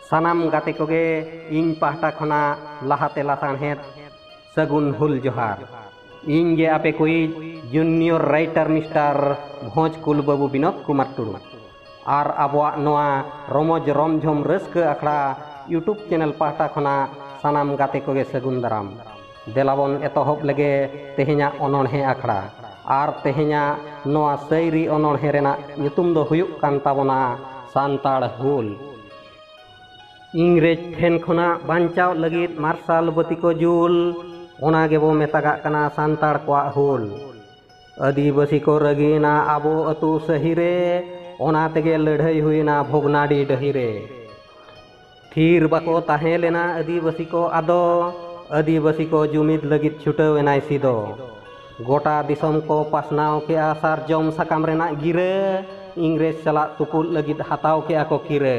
ᱥᱟᱱᱟᱢ ᱜᱟᱛᱮ ᱠᱚᱜᱮ ᱤᱧ ᱯᱟᱦᱴᱟ ᱠᱷᱚᱱᱟᱜ ᱞᱟᱦᱟᱛᱮ ᱞᱟᱥᱟᱬᱦᱮᱫ ᱥᱟᱹᱜᱩᱱ ᱦᱩᱞ ᱡᱚᱦᱟᱨ ᱤᱧ ᱜᱮ ᱟᱯᱮ ᱠᱚᱭᱤᱡ ᱡᱩᱱᱤᱭᱚᱨ ᱨᱟᱭᱴᱟᱨ ᱢᱤᱥᱴᱟᱨ ᱵᱷᱚᱸᱡᱽ ᱠᱩᱞ ᱵᱟᱹᱵᱩ ᱵᱤᱱᱳᱫ ᱠᱩᱢᱟᱨ ᱴᱩᱰᱩ ᱟᱨ ᱟᱵᱚᱣᱟᱜ ᱱᱚᱣᱟ ᱨᱚᱢᱚᱡᱽ ᱨᱚᱢᱡᱷᱚᱢ ᱨᱟᱹᱥᱠᱟᱹ ᱟᱠᱷᱲᱟ ᱭᱩᱴᱩᱵᱽ ᱪᱮᱱᱮᱞ ᱯᱟᱦᱴᱟ ᱠᱷᱚᱱᱟᱜ ᱥᱟᱱᱟᱢ ᱜᱟᱛᱮ ᱠᱚᱜᱮ ᱥᱟᱹᱜᱩᱱ ᱫᱟᱨᱟᱢ᱾ ᱫᱮᱞᱟ ᱵᱚᱱ ᱮᱛᱚᱦᱚᱵ ᱞᱮᱜᱮ ᱛᱮᱦᱮᱧᱟᱜ ᱚᱱᱚᱬᱦᱮᱸ ᱟᱠᱷᱲᱟ᱾ ᱟᱨ ᱛᱮᱦᱮᱧᱟᱜ ᱱᱚᱣᱟ ᱥᱟᱹᱭᱨᱤ ᱚᱱᱚᱬᱦᱮᱸ ᱨᱮᱱᱟᱜ ᱧᱩᱛᱩᱢ ᱫᱚ ᱦᱩᱭᱩᱜ ᱠᱟᱱ ᱛᱟᱵᱚᱱᱟ ᱥᱟᱱᱛᱟᱲ ᱦᱩᱞ᱾ ᱤᱝᱨᱮᱡᱽ ᱴᱷᱮᱱ ᱠᱷᱚᱱᱟᱜ ᱵᱟᱧᱪᱟᱣᱜ ᱞᱟᱹᱜᱤᱫ ᱢᱟᱨᱥᱟᱞ ᱵᱟᱹᱛᱤ ᱠᱚ ᱡᱩᱞ, ᱚᱱᱟ ᱜᱮᱵᱚ ᱢᱮᱛᱟᱜᱟᱜ ᱠᱟᱱᱟ ᱥᱟᱱᱛᱟᱲ ᱠᱚᱣᱟᱜ ᱦᱩᱞ᱾ ᱟᱹᱫᱤᱵᱟᱹᱥᱤ ᱠᱚ ᱨᱟᱹᱜᱤᱭᱮᱱᱟ ᱟᱵᱚ ᱟᱹᱛᱩ ᱥᱟᱹᱦᱤ ᱨᱮ ᱚᱱᱟ ᱛᱮᱜᱮ ᱞᱟᱹᱲᱦᱟᱹᱭ ᱦᱩᱭᱮᱱᱟ ᱵᱷᱚᱜᱽᱱᱟᱰᱤ ᱰᱟᱹᱦᱤ ᱨᱮ ᱛᱷᱤᱨ ᱵᱟᱠᱚ ᱛᱟᱦᱮᱸ ᱞᱮᱱᱟ ᱟᱹᱫᱤᱵᱟᱹᱥᱤ ᱠᱚ ᱟᱫᱚ ᱟᱹᱫᱤᱵᱟᱹᱥᱤ ᱠᱚ ᱡᱩᱢᱤᱫ ᱞᱟᱹᱜᱤᱫ ᱪᱷᱩᱴᱟᱹᱣ ᱮᱱᱟᱭ ᱥᱤᱫᱚ ᱜᱚᱴᱟ ᱫᱤᱥᱚᱢ ᱠᱚ ᱯᱟᱥᱱᱟᱣ ᱠᱮᱜᱼᱟ ᱥᱟᱨᱡᱚᱢ ᱥᱟᱠᱟᱢ ᱨᱮᱱᱟᱜ ᱜᱤᱨᱟᱹ ᱤᱝᱨᱮᱡᱽ ᱥᱟᱞᱟᱜ ᱛᱩᱯᱩᱫ ᱞᱟᱹᱜᱤᱫ ᱦᱟᱛᱟᱣ ᱠᱮᱜᱼᱟ ᱠᱚ ᱠᱤᱨᱟᱹ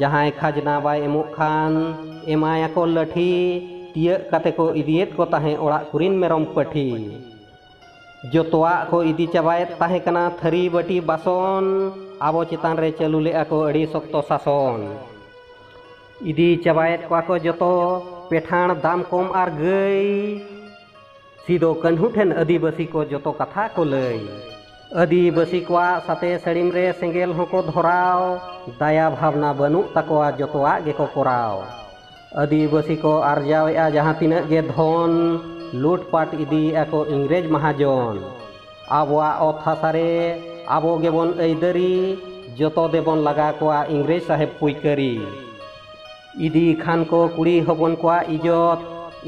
ᱡᱟᱦᱟᱸᱭ ᱠᱷᱟᱡᱽᱱᱟ ᱵᱟᱭ ᱮᱢᱚᱜ ᱠᱷᱟᱱ ᱮᱢᱟᱭᱟᱠᱚ ᱞᱟᱹᱴᱷᱤ ᱛᱤᱭᱟᱹᱜ ᱠᱟᱛᱮ ᱠᱚ ᱤᱫᱤᱭᱮᱫ ᱠᱚ ᱛᱟᱦᱮᱸ ᱚᱲᱟᱜ ᱠᱚᱨᱤᱱ ᱢᱮᱨᱚᱢ ᱯᱟᱹᱴᱷᱤ ᱡᱚᱛᱚᱣᱟᱜ ᱠᱚ ᱤᱫᱤ ᱪᱟᱵᱟᱭᱮᱫ ᱛᱟᱦᱮᱸ ᱠᱟᱱᱟ ᱛᱷᱟᱹᱨᱤ ᱵᱟᱹᱴᱤ ᱵᱟᱥᱚᱱ ᱟᱵᱚ ᱪᱮᱛᱟᱱ ᱨᱮ ᱪᱟᱹᱞᱩ ᱞᱮᱫᱼᱟ ᱠᱚ ᱟᱹᱰᱤ ᱥᱚᱠᱛᱚ ᱥᱟᱥᱚᱱ ᱤᱫᱤ ᱪᱟᱵᱟᱭᱮᱫ ᱠᱚᱣᱟ ᱠᱚ ᱡᱚᱛᱚ ᱯᱮᱴᱷᱟᱬ ᱫᱟᱢ ᱠᱚᱢ ᱟᱨ ᱜᱟᱹᱭ ᱥᱤᱫᱚ ᱠᱟᱹᱱᱦᱩ ᱴᱷᱮᱱ ᱟᱹᱫᱤᱵᱟᱹᱥᱤ ᱠᱚ ᱡᱚᱛᱚ ᱠᱟᱛᱷᱟ ᱠᱚ ᱞᱟᱹᱭ ᱟᱹᱫᱤᱵᱟᱹᱥᱤ ᱠᱚᱣᱟᱜ ᱥᱟᱛᱮ ᱥᱟᱹᱲᱤᱢ ᱨᱮ ᱥᱮᱸᱜᱮᱞ ᱦᱚᱸᱠᱚ ᱫᱷᱚᱨᱟᱣ ᱫᱟᱭᱟ ᱵᱷᱟᱵᱽᱱᱟ ᱵᱟᱹᱱᱩᱜ ᱛᱟᱠᱚᱣᱟ ᱡᱚᱛᱚᱣᱟᱜ ᱜᱮᱠᱚ ᱠᱚᱨᱟᱣ ᱟᱹᱫᱤᱵᱟᱹᱥᱤ ᱠᱚ ᱟᱨᱡᱟᱣᱮᱫᱼᱟ ᱡᱟᱦᱟᱸ ᱛᱤᱱᱟᱹᱜ ᱜᱮ ᱫᱷᱚᱱ ᱞᱩᱴᱯᱟᱴ ᱤᱫᱤᱭᱮᱫᱼᱟ ᱠᱚ ᱤᱝᱨᱮᱡᱽ ᱢᱟᱦᱟᱡᱚᱱ ᱟᱵᱚᱣᱟᱜ ᱚᱛ ᱦᱟᱥᱟ ᱨᱮ ᱟᱵᱚ ᱜᱮᱵᱚᱱ ᱟᱹᱭᱫᱟᱹᱨᱤ ᱡᱚᱛᱚ ᱫᱮᱵᱚᱱ ᱞᱟᱜᱟ ᱠᱚᱣᱟ ᱤᱝᱨᱮᱡᱽ ᱥᱟᱦᱮᱵᱽ ᱯᱩᱭᱠᱟᱹᱨᱤ ᱤᱫᱤ ᱠᱷᱟᱱ ᱠᱚ ᱠᱩᱲᱤ ᱦᱚᱯᱚᱱ ᱠᱚᱣᱟᱜ ᱤᱡᱚᱛ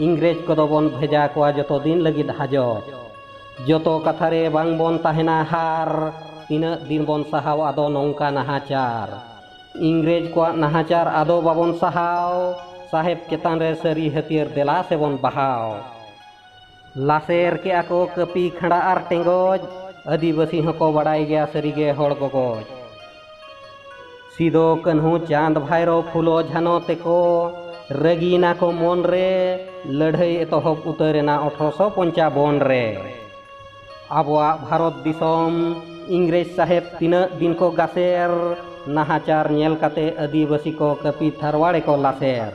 ᱤᱝᱨᱮᱡᱽ ᱠᱚᱫᱚ ᱵᱚᱱ ᱵᱷᱮᱡᱟ ᱠᱚᱣᱟ ᱡᱚᱛᱚ ᱫᱤᱱ ᱞᱟᱹᱜᱤᱫ ᱦᱟᱡᱚᱛ ᱡᱚᱛᱚ ᱠᱟᱛᱷᱟ ᱨᱮ ᱵᱟᱝ ᱵᱚᱱ ᱛᱟᱦᱮᱱᱟ ᱦᱟᱨ ᱛᱤᱱᱟᱹᱜ ᱫᱤᱱ ᱵᱚᱱ ᱥᱟᱦᱟᱣ ᱟᱫᱚ ᱱᱚᱝᱠᱟ ᱱᱟᱦᱟᱪᱟᱨ ᱤᱝᱨᱮᱡᱽ ᱠᱚᱣᱟᱜ ᱱᱟᱦᱟᱪᱟᱨ ᱟᱫᱚ ᱵᱟᱵᱚᱱ ᱥᱟᱦᱟᱣ ᱥᱟᱦᱮᱵᱽ ᱪᱮᱛᱟᱱ ᱨᱮ ᱥᱟᱹᱨᱤ ᱦᱟᱹᱛᱭᱟᱹᱨ ᱫᱮᱞᱟ ᱥᱮᱵᱚᱱ ᱵᱟᱦᱟᱣ ᱞᱟᱥᱮᱨ ᱠᱮᱜᱼᱟ ᱠᱚ ᱠᱟᱹᱯᱤ ᱠᱷᱟᱸᱰᱟ ᱟᱨ ᱴᱮᱸᱜᱚᱡ ᱟᱹᱫᱤᱵᱟᱹᱥᱤ ᱦᱚᱸᱠᱚ ᱵᱟᱰᱟᱭ ᱜᱮᱭᱟ ᱥᱟᱹᱨᱤᱜᱮ ᱦᱚᱲ ᱜᱚᱜᱚᱡ ᱥᱤᱫᱚ ᱠᱟᱹᱱᱦᱩ ᱪᱟᱸᱫᱽ ᱵᱷᱟᱭᱨᱚ ᱯᱷᱩᱞᱚ ᱡᱷᱟᱱᱚ ᱛᱮᱠᱚ ᱨᱟᱹᱜᱤᱭᱮᱱᱟ ᱠᱚ ᱢᱚᱱ ᱨᱮ ᱞᱟᱹᱲᱦᱟᱹᱭ ᱮᱛᱚᱦᱚᱵ ᱩᱛᱟᱹᱨᱮᱱᱟ ᱚᱴᱷᱨᱚᱥᱚ ᱯᱚᱧᱪᱟᱵᱚᱱ ᱨᱮ ᱟᱵᱚᱣᱟᱜ ᱵᱷᱟᱨᱚᱛ ᱫᱤᱥᱚᱢ ᱤᱝᱨᱮᱡᱽ ᱥᱟᱦᱮᱵᱽ ᱛᱤᱱᱟᱹᱜ ᱫᱤᱱ ᱠᱚ ᱜᱟᱥᱮᱨ ᱱᱟᱦᱟᱪᱟᱨ ᱧᱮᱞ ᱠᱟᱛᱮ ᱟᱹᱫᱤᱵᱟᱹᱥᱤ ᱠᱚ ᱠᱟᱹᱯᱤ ᱛᱷᱟᱨᱣᱟᱲᱮ ᱠᱚ ᱞᱟᱥᱮᱨ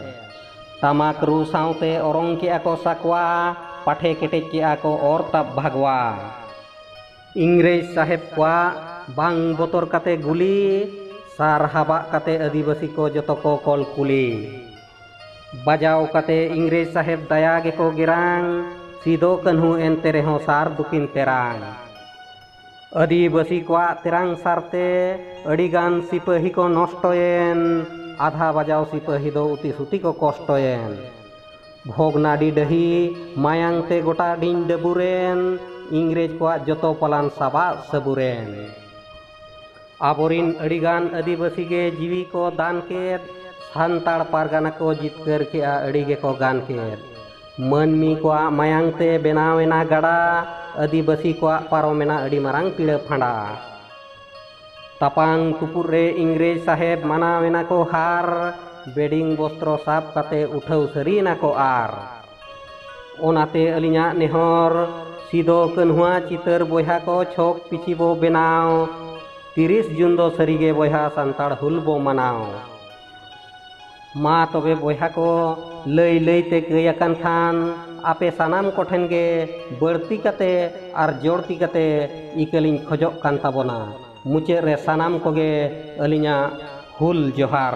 ᱴᱟᱢᱟᱠ ᱨᱩ ᱥᱟᱶᱛᱮ ᱚᱨᱚᱝ ᱠᱮᱜᱼᱟ ᱠᱚ ᱥᱟᱠᱣᱟ ᱯᱟᱴᱷᱮ ᱠᱮᱴᱮᱡ ᱠᱮᱜᱼᱟ ᱠᱚ ᱚᱨ ᱛᱟᱵ ᱵᱷᱟᱜᱽᱣᱟ ᱤᱝᱨᱮᱡᱽ ᱥᱟᱦᱮᱵᱽ ᱠᱚᱣᱟᱜ ᱵᱟᱝ ᱵᱚᱛᱚᱨ ᱠᱟᱛᱮ ᱜᱩᱞᱤ ᱥᱟᱨ ᱦᱟᱵᱟᱜ ᱠᱟᱛᱮ ᱟᱹᱫᱤᱵᱟᱹᱥᱤ ᱠᱚ ᱡᱚᱛᱚ ᱠᱚ ᱠᱚᱞ ᱠᱩᱞᱤ ᱵᱟᱡᱟᱣ ᱠᱟᱛᱮ ᱤᱝᱨᱮᱡᱽ ᱥᱟᱦᱮᱵᱽ ᱫᱟᱭᱟ ᱜᱮᱠᱚ ᱜᱮᱨᱟᱝ ᱥᱤᱫᱚ ᱠᱟᱹᱱᱦᱩ ᱮᱱᱛᱮ ᱨᱮᱦᱚᱸ ᱥᱟᱨ ᱫᱩᱠᱤᱱ ᱛᱮᱨᱟᱝ ᱟᱹᱫᱤᱵᱟᱹᱥᱤ ᱠᱚᱣᱟᱜ ᱛᱮᱨᱟᱝ ᱥᱟᱨᱛᱮ ᱟᱹᱰᱤ ᱜᱟᱱ ᱥᱤᱯᱟᱹᱦᱤ ᱠᱚ ᱱᱚᱥᱴᱚᱭᱮᱱ ᱟᱫᱷᱟ ᱵᱟᱡᱟᱣ ᱥᱤᱯᱟᱹᱦᱤ ᱫᱚ ᱩᱛᱤ ᱥᱩᱛᱤ ᱠᱚ ᱠᱚᱥᱴᱚᱭᱮᱱ ᱵᱷᱚᱜᱽᱱᱟᱰᱤ ᱰᱟᱹᱦᱤ ᱢᱟᱭᱟᱝ ᱛᱮ ᱜᱚᱴᱟ ᱰᱤᱧ ᱰᱟᱹᱵᱩᱨᱮᱱ ᱤᱝᱨᱮᱡᱽ ᱠᱚᱣᱟᱜ ᱡᱚᱛᱚ ᱯᱟᱞᱟᱱ ᱥᱟᱵᱟᱫ ᱥᱟᱹᱵᱩᱨᱮᱱ ᱟᱵᱚᱨᱤᱱ ᱟᱹᱰᱤᱜᱟᱱ ᱟᱹᱫᱤᱵᱟᱹᱥᱤ ᱜᱮ ᱡᱤᱣᱤ ᱠᱚ ᱫᱟᱱ ᱠᱮᱫ ᱥᱟᱱᱛᱟᱲ ᱯᱟᱨᱜᱟᱱᱟ ᱠᱚ ᱡᱤᱛᱠᱟᱹᱨ ᱠᱮᱫᱼᱟ ᱟᱹᱰᱤ ᱜᱮᱠᱚ ᱜᱟᱱ ᱠᱮᱫ ᱢᱟᱹᱱᱢᱤ ᱠᱚᱣᱟᱜ ᱢᱟᱭᱟᱝ ᱛᱮ ᱵᱮᱱᱟᱣ ᱮᱱᱟ ᱜᱟᱰᱟ ᱟᱹᱫᱤᱵᱟᱹᱥᱤ ᱠᱚᱣᱟᱜ ᱯᱟᱨᱚᱢ ᱮᱱᱟ ᱟᱹᱰᱤ ᱢᱟᱨᱟᱝ ᱯᱤᱲᱟᱹ ᱯᱷᱟᱸᱰᱟ ᱛᱟᱯᱟᱝ ᱛᱩᱯᱩᱫ ᱨᱮ ᱤᱝᱨᱮᱡᱽ ᱥᱟᱦᱮᱵᱽ ᱢᱟᱱᱟᱣ ᱮᱱᱟ ᱠᱚ ᱦᱟᱨ ᱵᱮᱰᱤᱝ ᱵᱚᱥᱛᱨᱚ ᱥᱟᱵ ᱠᱟᱛᱮ ᱩᱴᱷᱟᱹᱣ ᱥᱟᱹᱨᱤᱭᱮᱱᱟ ᱠᱚ ᱟᱨ ᱚᱱᱟᱛᱮ ᱟᱹᱞᱤᱧᱟᱜ ᱱᱮᱦᱚᱨ ᱥᱤᱫᱚ ᱠᱟᱹᱱᱦᱩᱣᱟᱜ ᱪᱤᱛᱟᱹᱨ ᱵᱚᱭᱦᱟ ᱠᱚ ᱪᱷᱚᱠ ᱯᱤᱪᱷᱤ ᱵᱚ ᱵᱮᱱᱟᱣ ᱛᱤᱨᱤᱥ ᱡᱩᱱ ᱫᱚ ᱥᱟᱹᱨᱤᱜᱮ ᱵᱚᱭᱦᱟ ᱥᱟᱱᱛᱟᱲ ᱦᱩᱞ ᱵᱚ ᱢᱟᱱᱟᱣ ᱢᱟ ᱛᱚᱵᱮ ᱵᱚᱭᱦᱟ ᱠᱚ ᱞᱟᱹᱭ ᱞᱟᱹᱭᱛᱮ ᱠᱟᱹᱭ ᱟᱠᱟᱱ ᱠᱷᱟᱱ ᱟᱯᱮ ᱥᱟᱱᱟᱢ ᱠᱚᱴᱷᱮᱱ ᱜᱮ ᱵᱟᱹᱲᱛᱤ ᱠᱟᱛᱮ ᱟᱨ ᱡᱚᱲᱛᱤ ᱠᱟᱛᱮ ᱤᱠᱟᱹᱞᱤᱧ ᱠᱷᱚᱡᱚᱜ ᱠᱟᱱ ᱛᱟᱵᱚᱱᱟ ᱢᱩᱪᱟᱹᱫ ᱨᱮ ᱥᱟᱱᱟᱢ ᱠᱚᱜᱮ ᱟᱹᱞᱤᱧᱟᱜ ᱦᱩᱞ ᱡᱚᱦᱟᱨ